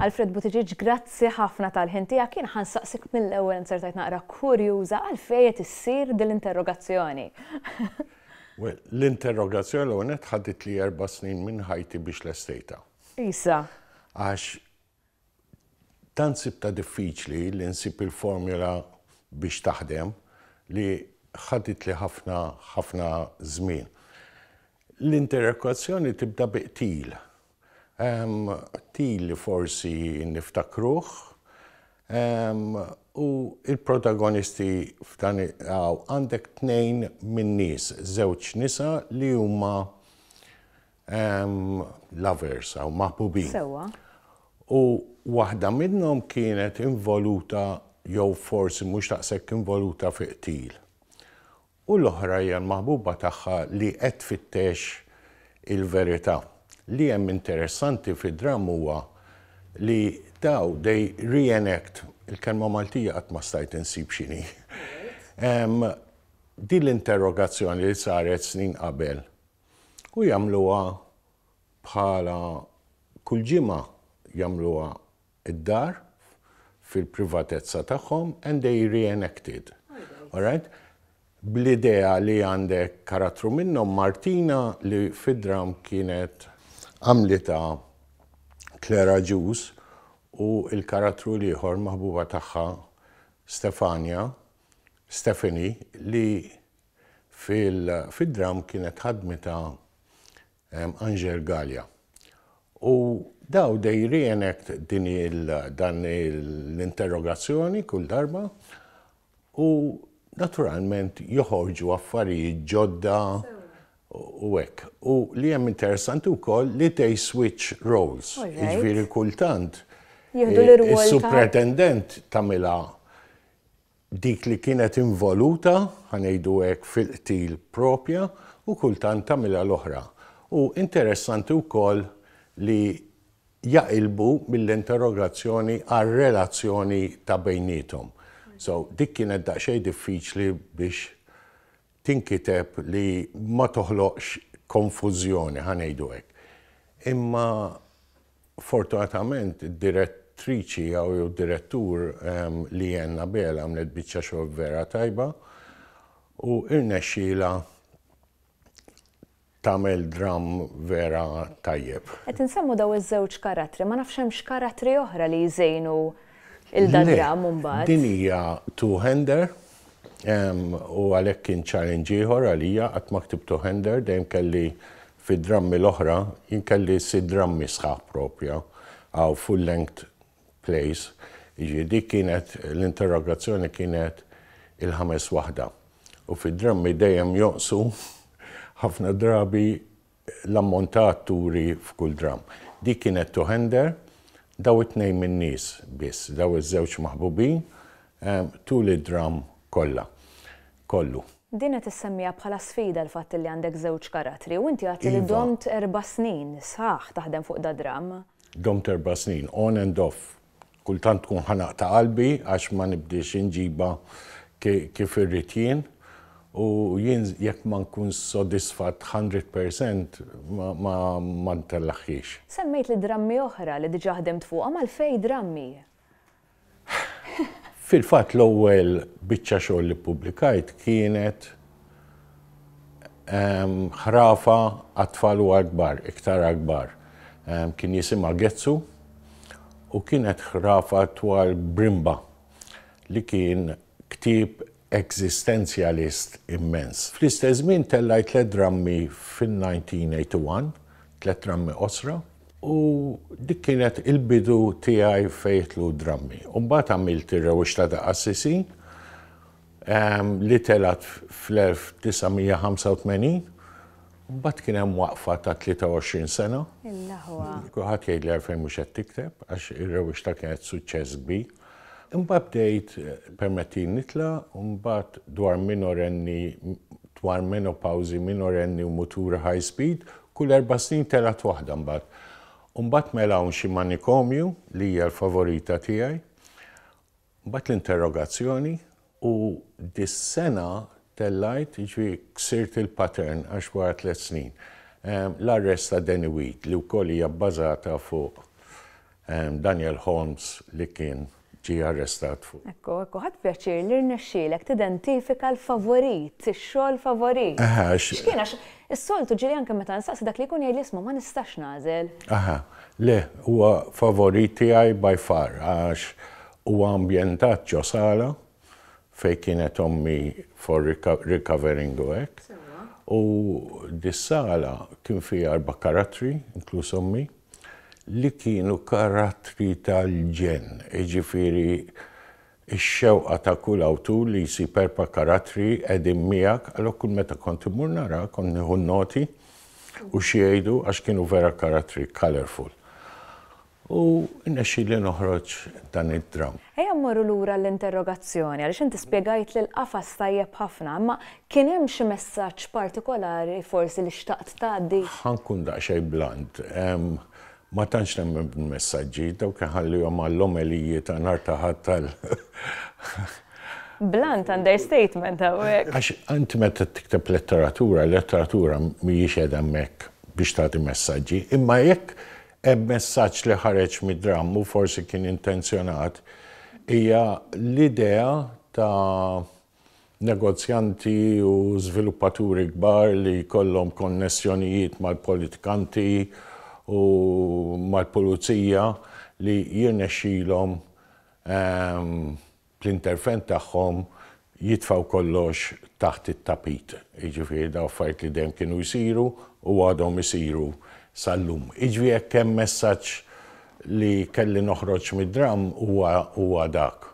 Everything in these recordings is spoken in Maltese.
Alfred Buttigieg, grazzi ħafna tal-ħin tiegħek. Jien ħansaqsik mill-ewwel insertajt naqra kurjuża għal fejet issir dil-interrogazzjoni. Well, l-interrogazzjoni l-għonet ħadit li erba snin minn ħajti biex l-estejta. Isa. Għax tant sibtha diffiċli li nsib il-formula biex taħdem li ħaditli ħafna ħafna żmien. L-interrogazzjoni tibda bi qtil. Qtil li forsi niftakruh u l-protagonisti f'dan hawn għandek tnejn min-nies, żewġ nisa li huma Lovers hawn, maħbubin. Sewwa. U waħda minnhom kienet involuta jew forsi mhux daqshekk involuta fi qtil. U l-oħra hija l-maħbuba tagħha li qed tfittex il-verità. Li hemm interessanti fid-dramm huwa li daw they reenact, il-kelma Maltija qatt ma stajt insib x'inhi, din l-interrogazzjoni li saret snin qabel u jagħmluha bħala kull ġimgħa jagħmluha d-dar fil-privatezza tagħhom and they reenacted. Alright? Bl-idea li għandek karattru minnhom Martina li fid-dram kienet għamlitha Claire Agius u l-karattru l-ieħor maħbuba tagħha Stefania, Stephanie, li Fid-dramm kienet ħadmitha Angèle Galea. U daw they re-enact din il dan l-interrogazzjoni kull darba u naturalment joħorġu affarijiet ġodda u hekk. U li hemm interessanti wkoll li they switch roles. Jiġifieri kultant is-supretendent tagħmilha dik li kienet involuta, ħa ngħidu hekk, fil-qtil proprja u kultant tagħmilha l-oħra. U interessanti wkoll li jaqilbu mill-interrogazzjoni għar-relazzjoni ta' bejniethom. So, dik kienet daqsxejn diffiċli biex tinkiteb li ma toħloqx konfużjoni, ħa ngħidu hekk. Imma fortunatament id-direttriċi jew id-direttur Leanne Nabeel għamlet biċċa xogħol vera tajba u rnexxielha Tagħmel dramm vera tajjeb. Qed insemmu daw iż-żewġ karattri, ma nafx hemmx karattri oħra li jżejnu il da dramm imbagħad. Le, din hija two hander u għalhekk kien challenge ieħor għalija qatt ma ktibt two hander dejjem kelli fid-drammi l-oħra jien kelli sitt drammi sħaħ propja hawn full length place, jiġifieri dik kienet l-interrogazzjoni kienet il-ħames waħda u fid-drammi dejjem jonqsu ħafna drabi l-ammont ta' atturi f'kull dramm. Dik kienet Two Hander, daw it-tnejn min-nies biss, daw iż-żewġ maħbubin tul id-dramm kollha, kollu. Din qed issemmiha bħala sfida l-fatt li għandek żewġ karattri u inti għadtli domt erba' snin sħaħ taħdem fuq dad-dramm. Domt erba' snin, on and off. Kultant tkun ħanaq ta' qalbi għax ma nibdiex inġibha kif irrid jien. U jien jekk ma nkunx sodisfatt hundred percent ma ntellagħhiex. Semmejt li drammi oħra li diġà ħdimt fuqhom għal Fej Drammi. Fil-fatt l-ewwel biċċa xogħol li ppubblikajt kienet ħrafa għat-tfal u għall-kbar, iktar għall-kbar. Kien jisimha Getsu u kienet ħrafa dwar Brimba li kien ktieb eżistenzjalist immens. Fl-istess żmien tellajt tliet drammi fin-1981, tliet drammi qosra, u dik kienet il-bidu tiegħi fejn jidħlu d-drammi. U mbagħad għamilt Ir-Rewwixta ta' Qassisin li telgħet fl-1985, u mbagħad kien hemm waqfa ta' 23 sena. Kulħadd jgħidli għalfejn mhux qed tikteb, għax Ir-Rewwixta kienet suċċess kbir. Imbagħad bdejt permettini nitla' u mbagħad dwar minorenni dwar menopawżi minorenni u muturi high speed, kull erba' snin telgħet waħda mbagħad. U mbagħad mela hawn xi manikomju li hija l-favorita tiegħi. Mbagħad l-interrogazzjoni. U dis-sena tellgħet, jiġifieri ksirt il-pattern għax wara tliet snin. L-arrest ta' Danny Weed li wkoll hija bbażata fuq Daniel Holmes li kien ġie arrestat fuq. Ekku, ekku, ħadt pjaċir li rnexxielek tidentifika l-favorit, ix-xogħol favorit. Aha, għax. X'kien għax is-soltu ġieli anke meta nsaqsi dak li jkun jgħidli isma' ma nistax nagħżel. Aha, le, huwa favorit tiegħi by far għax Huwa ambjentat ġo sala fejn kienet ommi for recovering u hekk. U dis-sala kien fiha erba' karattri, inkluż ommi, li kienu karattri tal-ġenn. Jiġifieri x-xewqa ta' kull awtur li jsib erba' karattri qegħdin miegħek, allura kull meta kont immur naraha kont nieħu n-noti u x'jgħidu għax kienu vera karattri colourful. U rnexxieli noħroġ dan id-dramm. Ejja mmorru lura għall-interrogazzjoni, għaliex inti spjegajtli l-qafas tajjeb ħafna, imma kien hemm xi messaġġ partikolari forsi li xtaqt tgħaddi? Ħa nkun daqsxejn blunt, ma tantx nemmen bil-messaġġi, dawk inħallihom għall-omeliji ta' nhar ta' Ħadd għal. Blunt understatement hawnhekk. Għax int meta tikteb letteratura, l-letteratura mhijiex qiegħda hemmhekk biex tagħti messaġġi, imma jekk Hemm messaġġ li ħareġ mid-dramm u forsi kien intenzjonat, hija l-idea ta' negozjanti u żviluppaturi kbar li jkollhom konnessjonijiet mal-politikanti u mal-pulizija li jirnexxilhom bl-intervent tagħhom jitfgħu kollox taħt it-tapit. Jiġifieri dawn affarijiet li dejjem kienu jsiru u għadhom isiru sal-lum. Jiġifieri jekk hemm messaġġ li kelli noħroġ mid-dramm huwa huwa dak.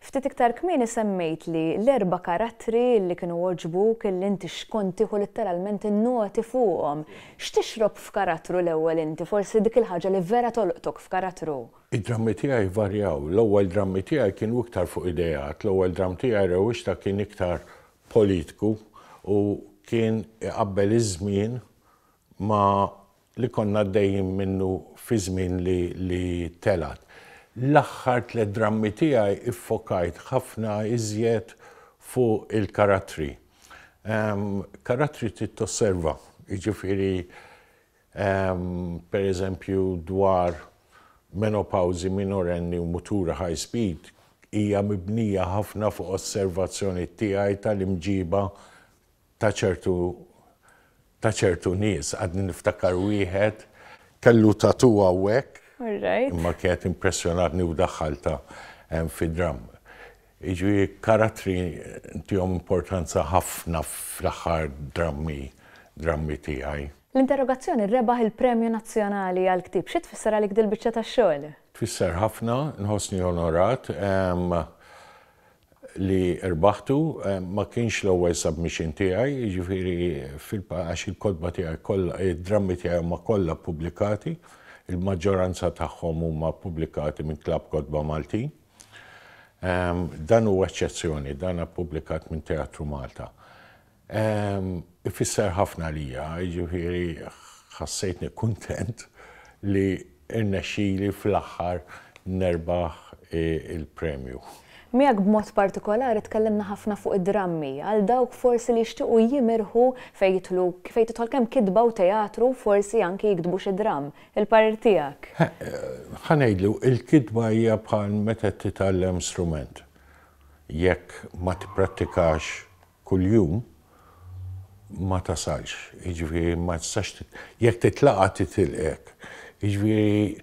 Ftit iktar kmieni semmejt li l-erba' karattri li kienu għoġbuk illi inti xkont tieħu litteralment in-noti fuqhom. X'tixrob f'karattru l-ewwel inti, forsi dik il-ħaġa li vera tolqtok f'karattru? Id-drammi tiegħi jvarjaw. L-ewwel drammi tiegħi kienu iktar fuq ideat. L-ewwel dramm tiegħi Rewwixta kien iktar politiku u kien iqabbel iż-żmien ma' li konna għaddejjin minnu fiż-żmien li li telgħet. L-aħħar tliet drammi tiegħi ffokajt ħafna iżjed fuq il-karattri. Karattri trid tosserva, jiġifieri per eżempju dwar menopawżi minorenni u muturi high speed, hija mibnija ħafna fuq osservazzjoni tiegħi tal-imġiba ta' ċertu ta' ċertu nies. Għadni niftakar wieħed kellu tattoo hawnhekk imma kienet impressjonatni u daħħaltha fid-dramm. Jiġifieri karattri ntihom importanza ħafna fl-aħħar drammi drammi tiegħi. L-interrogazzjoni rebaħ il-Premju Nazzjonali għall-Ktieb. Xi tfisser għalik dil-biċċa ta' xogħol? Tfisser ħafna, nħossni onorat li rbaħtu. Ma kienx l-ewwel submission tiegħi, jiġifieri għax il-kotba tiegħi kollha, id-drammi tiegħi huma kollha ppubblikati, il-maġġoranza tagħhom huma ppubblikati minn Klabb Kotba Maltin. Dan huwa eċċezzjoni, dan ppubblikat minn Teatru Malta. Ifisser ħafna għalija, jiġifieri ħassejtni kuntent li rnexxili fl-aħħar nerbaħ il-premju. Miegħek b'mod partikolari tkellimna ħafna fuq id-drammi, għal dawk forsi li jixtiequ jimirħu fejn jidħlu, fejn tidħol kemm kitba u teatru, forsi anki jiktbu xi dramm. Il-parir tiegħek. Ħa ngħidlu, il-kitba hija bħal meta titgħallem strument. Jekk ma tipprattikax kuljum, ma tasalx. Jiġifieri ma tistax jekk titlaqa' titilqek. Jiġifieri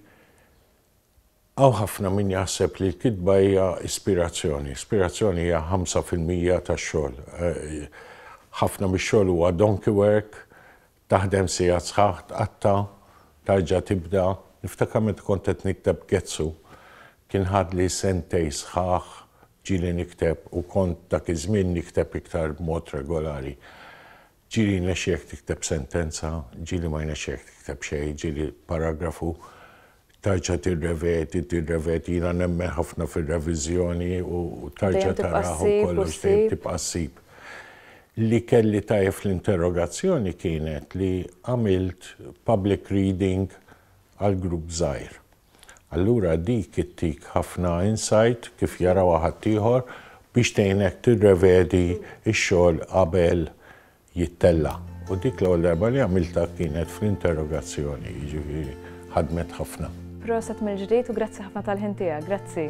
hawn ħafna min jaħseb li l-kitba hija ispirazzjoni. Ispirazzjoni hija ħamsa fil-mija tax-xogħol. Ħafna mix-xogħol huwa donkey work, Taħdem sigħat sħaħ, tqatta', tarġa' tibda. Niftakar meta kont qed nikteb Getsu, kien ħadli sentejn sħaħ ġieli nikteb u kont dak iż-żmien nikteb iktar b'mod regolari. Ġieli jnexxilek tikteb sentenza, ġieli ma jnexxilek tikteb xejn, ġieli paragrafu. Tarġa' tirrevedi, tirrevedi, jiena nemmen ħafna fir-reviżjoni u tarġa' taraha u kollox dejjem tibqa' ssib. Li kelli tajjeb fl-interrogazzjoni kienet li għamilt public reading għal grupp żgħir. Allura dik ittik ħafna insight kif jarawha ħaddieħor biex tgħinek tirrevedi x-xogħol qabel jittella'. U dik l-ewwel darba li għamiltha kienet fl-interrogazzjoni, jiġifieri ħadmet ħafna. Proset mill-ġdid u grazzi ħafna tal-ħin tiegħek. Grazzi.